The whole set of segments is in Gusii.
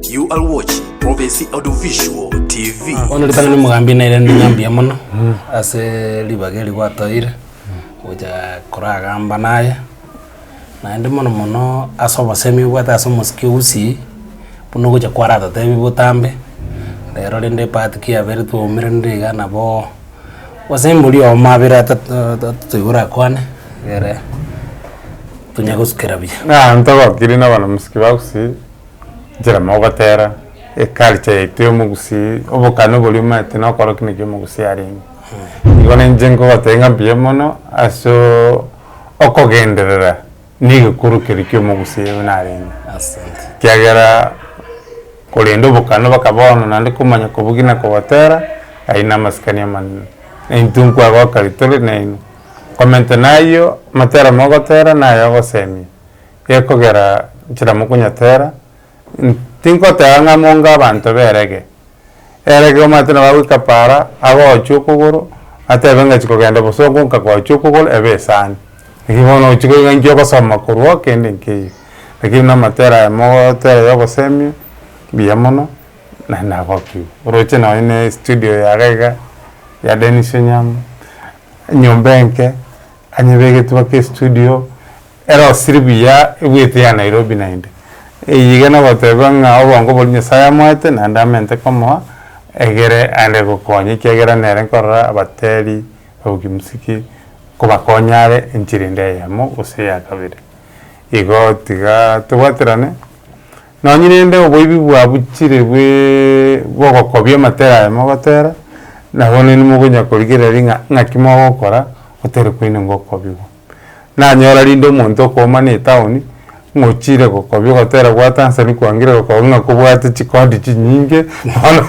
You are watching Prophecy Audiovisual TV. Bono ritang'ani n'omogambi nere ninye mbuya mono ase ribaga eri gwatoeire gocha koragamba naye naende mono mono ase obosemi obwate ase omosike o Gusii buna ogocha kwaratotebi botambe rero rende epart ki yabere twaumeraniire iga nabo gose embori obo mabere ata toigure akwane egere tonya gosukera buya. Ntogokirie na abanyamusike ba Gusii Nchera mogotera eculture yaito y'omogusii, obokane oboria omanyete na okora ki naki omogusii arenge. Igo na inche nkogotebia ng'a mbuya mono asoo okogenderera na egekuru keria kia omogusii oyo narenge. Asante. Ekiagera korende obokane mpaka bono naende komanya kobugia na kogotera aye na amasikani amanene. Intwe nkwagoka ritore naino. Komentana ayio, amatera mogotera na aya ogosemia. gekogera nchera mokonyatera, ntikotea ng'a monga abanto b'erege. Erege omanyete nabo agoika paara, agochie okogoro, atebe ng'a chikogenda bosongo nkagochia okogoro ebe esani. Naki bono ochia koigwa inche ogosoma korwao kende nkeiyo. Lakini na amatera aya mogotera ya ogosemia, mbuya mono, naende nagokigwa. Oroche nonye na estudio eye iga iga ya Dennis Onyango, enyomba enke, anyebegetwe ake estudio. Ero osiri buya ebuete ya Nairobi naende. Eye iga nogoteba ng'a obongo boria Nyasae amoete naende amente komoa egere aende gokonya ekiagera nere nkorora abateri babokimusiki kobakonya are enchera ende eyemo gose eya kabere. Igo tiga tobwaterane nonye rende oboibi bwabuchire bwe bogokobia amatera aye mogotera nabo naende mogonya korigereria ng'a ng'aki mogokora gotere koine gokobigwa. Nanyora rinde omonto okoomana etaoni, ng'ochiire gokobia ogotera bwate ansa nigo kwangire gokoba ng'a kobwate chikondi chinyinge bono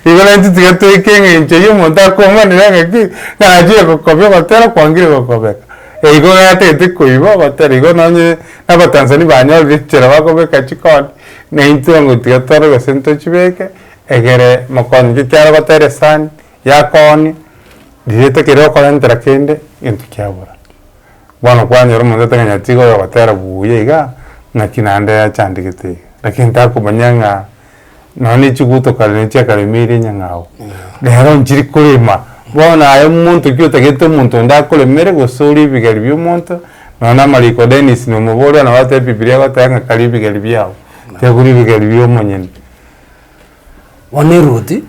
igo naintwe tiga toika eng'encho ya omonto akoomanire ng'aki, naachire gokobia ogotera kwangire gokobeka. Eigo gatagete koiba ogotera igo nonye abatanzania banyorire enchera bakobeka chikondi, naintwe ongo tiga tore gose ntochibeke egere mokonye. Ekiagera gotera esani, yakooni riirete keria okorentera kende gento kiabora. Bono kwanyora omonto otagenya tiga oyogotera buuya iga naki naende yachandegete iga lakini takomanya ng'a nonya ne chiguto kare ne chiakaremeire nyang'au rero nchiri korema bono aye omonto ki otagete omonto onde akoremere gose orie ebigari bia omonto nonya na amariko Dennis na omobori one bateba bibilia egoteba ng'a karia ebigari biabo tiga kori ebigari bia omonyene. Bono eruti,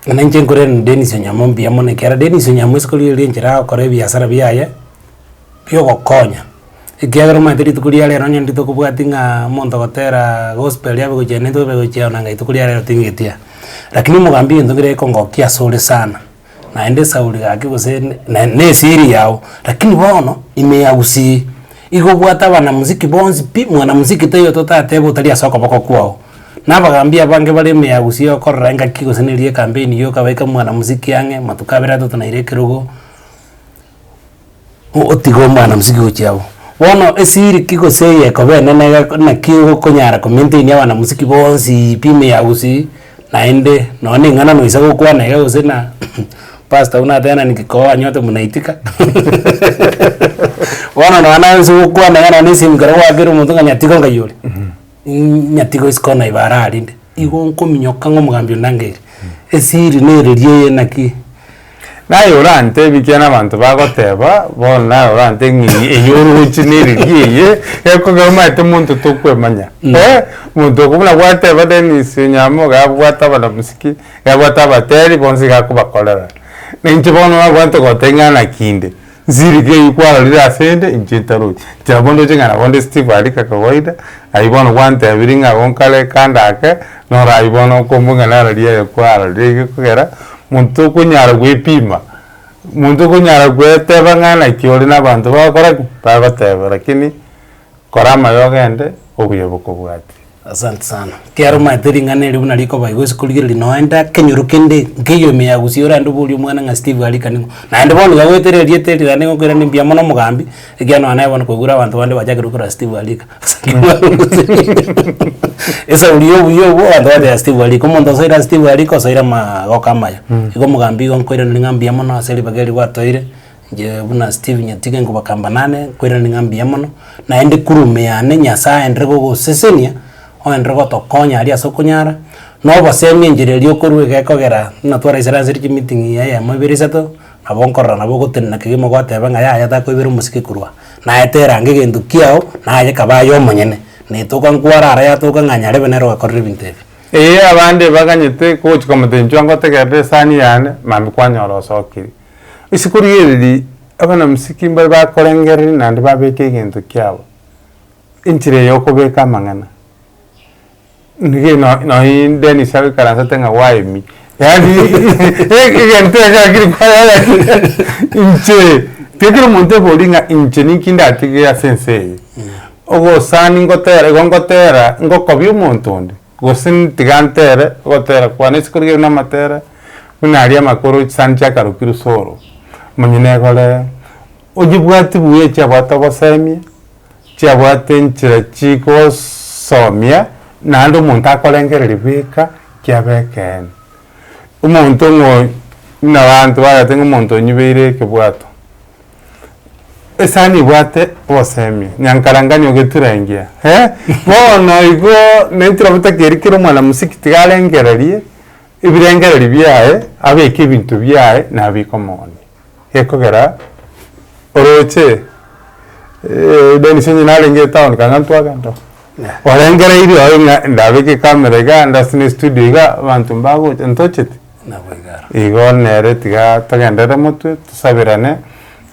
ng'a inche nkoreranie Dennis Onyango mbuya mono ekiagera Dennis Onyango isiko riaye ria enchera agokora ebiasara biaye bia ogokonya, ekiagera omanyete rituko ria rero onye rituko tokobwati ng'aa omonto ogoteraa gospel abe gochia nini tobe gochia onanga rituko ria rero ting'etia. Rakini omogambi egento nkere ekongokia asore sana, Naende Sauli gaki gose ne nesiri yao, lakini bono ime yagusii, igo obwate abanamuziki bonsi pi, mwanamuziki taiyo ototateba otari ase okoboko kwao. Na abagambi abange bare ime yagusii okorora engaki gose neri ekampeni yoka baika mwanamuziki ang'e, matuko abere atato naira ekerogo. gotiga omwana mosike gochia abwo. Bono esiri ki gose eye ekoba enene egeko naki egokonyara komaintainia abana mosiki boonsiiii pi ime yago gusii naende nonye na eng'ana noise gokwana iga gose na pastor buna atenenetie nki koo anywete muna itika bono nonye naye nse gokwana iga nonye na esimi ekero gwaakera omonto ng'a nyatika nkaiyore. nyatigoisiko na ibare aria inde, igo nkominyoka ng'a omogambi ondangeirie. Esiri nereria eye naki. Naye orantebi kiane abanto bagoteba, bono naye orante ng'a eye eye oroche nereria eye, gekogera omanyete monto tokwemanya. Eeh, monto oko buna gwateba Dennis Onyamoga abwate abanamosike, abwate abateri bonsi iga akobakorera. Nainche bono nabwate goteba ng'a naki inde. Nchiriki eyio kwarorire ase 'nde, inche ntaroti. Tiga bono ndoche ng'a nabo nde Steve aria kakawaida, aye bono gwantebirie ng'a agwo nkare kando ake, noro ayio bono okombua ng'a narorie aye kwarorire iga ekogera, monto tokonyara gwepima, monto tokonyara gweteba ng'a naki ore na abanto bagokora ki? Bagoteba, lakini. Kora amaya ogende, obuya bokobwate. Asante sana. Ekiagera omanyete ring'ana erio buna rikoba igo ase korigereria noe inde akenyoro kende nkeiyo ime ya gusii ore ande oborie omwana ng'a Steve arikani ng'o. Naende bono iga goetera erieta erio naende ngokwera ne mbuya mono omogambi ekiagera nonya naye bono koigure abanto bande bachakire gokwera Steve arika. Esauri ya obuya obwo abanto bagocha Steve arika. Omonto osoire ase Steve arika osoire amagoko amaya. Igo omogambi igo nkoiraneria ng'a mbuya mono ase ribaga eri gwatoire. Inche buna Steve Nyatige nkobakamba nane nkoirane ng'a mbuya mono, naende kura ime yane Nyasaye aenderere gogosesenia, oenderere gotokonya aria ase okonyara, na obosemi enchera eria okorua iga ekogera buna twaraisire ase ri chimeeting eyemo ibere isato, nabo nkorora nabo ogotenena kegima goteba ng'a yaya takoibera omosike korwa aa, naete erange egento kiago, naye kaba aye omonyene, na etoka nkwara ara yatoka ng'a nyarebe nere ogakorera ebinto ebi. Eyio abande baganyete gochia komotenchwa ngotegerere esani yane, mambia kwanyora osokiri. Isiko ri'ereri abanamsiki mbare bakorengereria naende babeke egento kiabo, enchera eye yokobeka amang'ana. Nigo eno nonye Dennis agoikaransete ng'a gwaemia, yaani egento eke gaki rikoba inche tiga kera omonto ebori ng'a inche ninki ndatige ase ense eye. Ogosani ngotera igo ngotera ngokobia omonto onde. gose tiga ntere ogotera kwane ase korigereria namatera buna aria amakoro chisani chiakarokirwe soro omonyene egorere onyebwati buya echio abwate ogosemia chiabwate enchera chigosomia naende omonto akorengereria bweka kiabe ekeene omonto ng'o buna abanto bagoteba ng'a omonto onyibeire ekebwato. Esani ebwate obosemi nyankarangani ogetura engiya eh bono igo naintwe nabo takeria kera omwana mosike tiga arengererie ebirengereri biaye abeke ebinto biaye nabeke omoonia gekogera oroche Dennis onye narenge etown kang'ana ntwagenda oo orengereiri oyo ng'a ndabeke ecamera igaa ndasine estudio igaa abanto mbagocha ntochete. Igo nere tiga togenderere motwe tosabirane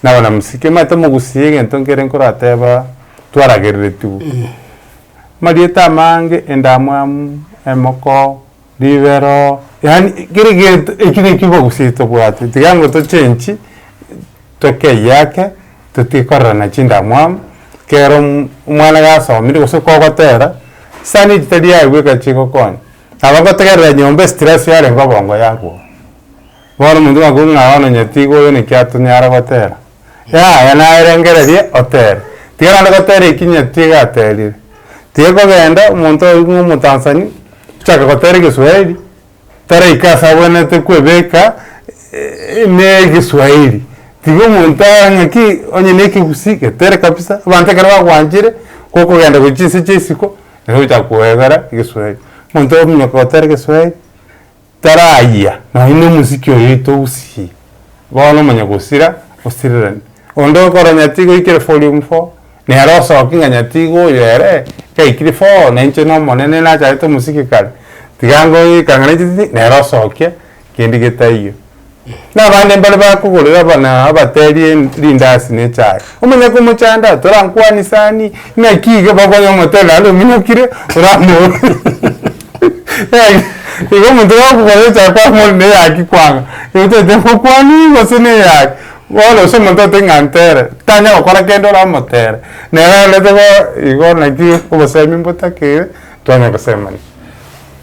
nabo na mosike manye tomogusie egento nkere nkorateba twaragereretigwe. Amarieta amange, endamwamu, emoko, ribero, yaani kera egento eki naki obogusia tobwate tiga nabo tochenchi toke eyake totige korerana chindamwamu kero omwana gasomire gose kogotera chisani echitari aye bweka chigokonya. Nabagotegerera nyomba estress yarenge obongo yagwo. Bono omonto ng'akobua ng'a bono onye tiga oyo naki atonyare gotera. Yaya naye rengereria otere. Tiga naende gotera eki onye tiga aterire. Tiga kogenda omonto oyio buna omotanzani ochake gotera egeswahili taraika ase abwenerete kwebeka ne egeswahili. Tiga omonto aye ng'aki onye ne ekegusii getere kabisa. Abanto ekero bagwanchire gokogenda gochia inse chia isiko. nabo ochaka koebera egeswahili. Omonto ominyoka gotera egeswahili tarayia nonya na omosiki oyo itogusii bono omanye gosira osireranie. Onde okoro nyati goikire forium four nere osoki ng'a nyati iga oyo ere gaikire four na inche nomonene nachagete omosiki kare tiga ngoika ng'a nainche tindi nere osokie. kende getaiyo. Na abande mbare bakogorera buna abateri rindasi ne echae. Omonyaka omochanda, torankwanie sani, naki iga bakonya omotera naende ominyokire, oramoorore. Igo omonto gakogorera echae kwamoorora na eyaki kwang'a, igo totete ngokwanie gose na eyaki. Bono gose omonto ote ng'a ntere, tanya gokora kende oramotere. Nere arorete igo naki obosemi mbotakeire, twanya gosemania.